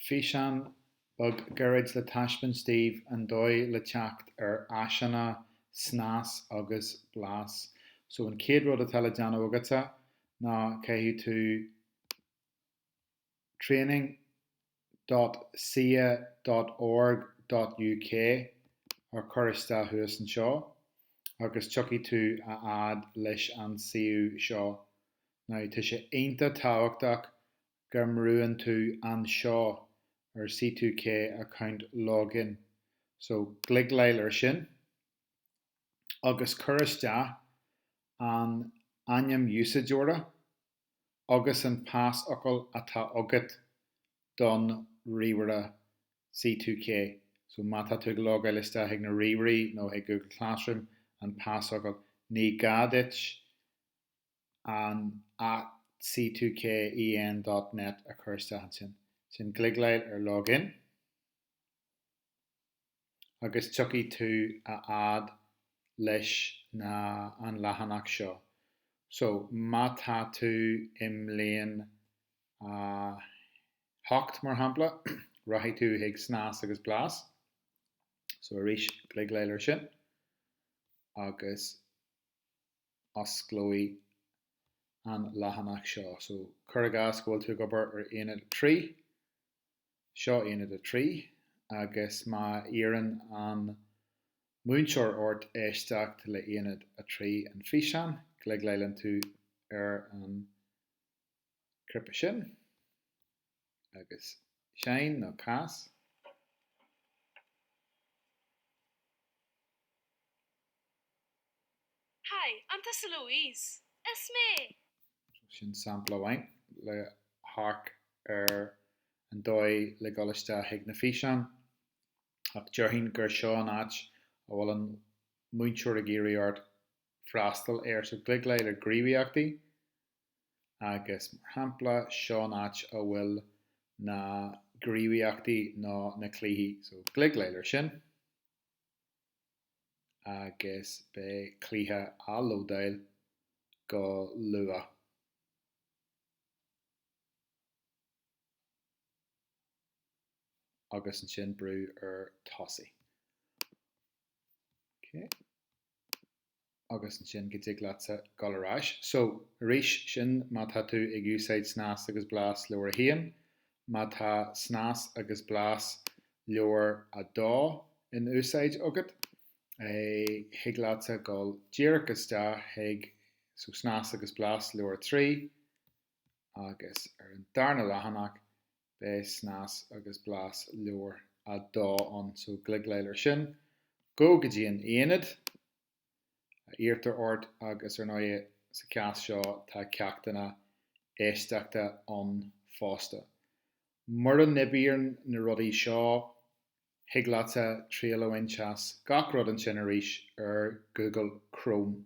físeán beag gairid le taispeáint daoibh an dóigh le teacht ar áiseanna, snas agus blas. So an chéad rud atá le déanamh agatsa ná caithfidh tú training dot ccea dot org dot uk a chur isteach thuas anseo agus tiocfaidh tú a fhad leis an suíomh seo. Now tá sé iontach tábhachtach go mbrúann tú anseo ar C2K account login so gliogáil ar sin agus cuir isteach an ainm úsáideora agus an pasfhocal atá agat don ríomhaire C2K so má tá tú ag logáil isteach chuig na ríomhairí nó chuig Google Classroom an pasfhocal ní gá duit an at c2ken dot net a chur isteach ansin, sin gliogáil ar log in, agus tiocfaidh tú a fhad leis na an leathanach seo. So, má tá tú i mbliain a hocht, mar shampla, rachaidh tú chuig Snas agus Blas. So, arís, gliogáil ar sin, agus. osclóidh an leathanach seo. So, cuir i gcás go bhfuil tú ag obair ar Aonad 3, seo Aonad 3, agus má iarrann an múinteoir ort éisteacht le Aonad 3, an físeán, gliogálann tú ar an. cnaipe sin, agus seinn nó cas. Hi, an tusa Louise? Is mé! Sin sampla amháin le hamharc ar an dóigh le dul isteach chuig na físeáin, ach déarfainn gur seo an áit a bhfuil an múinteoir ag iarraidh ort freastal air. So gliogáil ar Gníomhaíochtaí. agus mar shampla seo an áit a bhfuil na gníomhaíochtaí nó na cluichí, so gliogáil ar sin agus beidh cluiche ag lódáil go luath. agus ansin brú ar tosaigh. agus ansin go dtig leatsa dul ar ais. So, arís, sin má tá tú ag úsáid snas agus blas leabhar a haon. Má tá snas agus blas leabhar a dó in úsáid agat, thig leatsa dul díreach isteach chuig, so, snas agus blas leabhar a trí, agus ar an darna leathanach, beidh snas agus blas leabhar a 2 ann so cliceáil ar sin, gabh go dtí an aonad a iarrtar ort agus ar ndóigh sa chás seo tá ceachtanna éisteachta ann fosta. Mura n-oibíonn na rudaí seo thig leatsa triail a bhaint as gach rud ansin arís ar Google Chrome.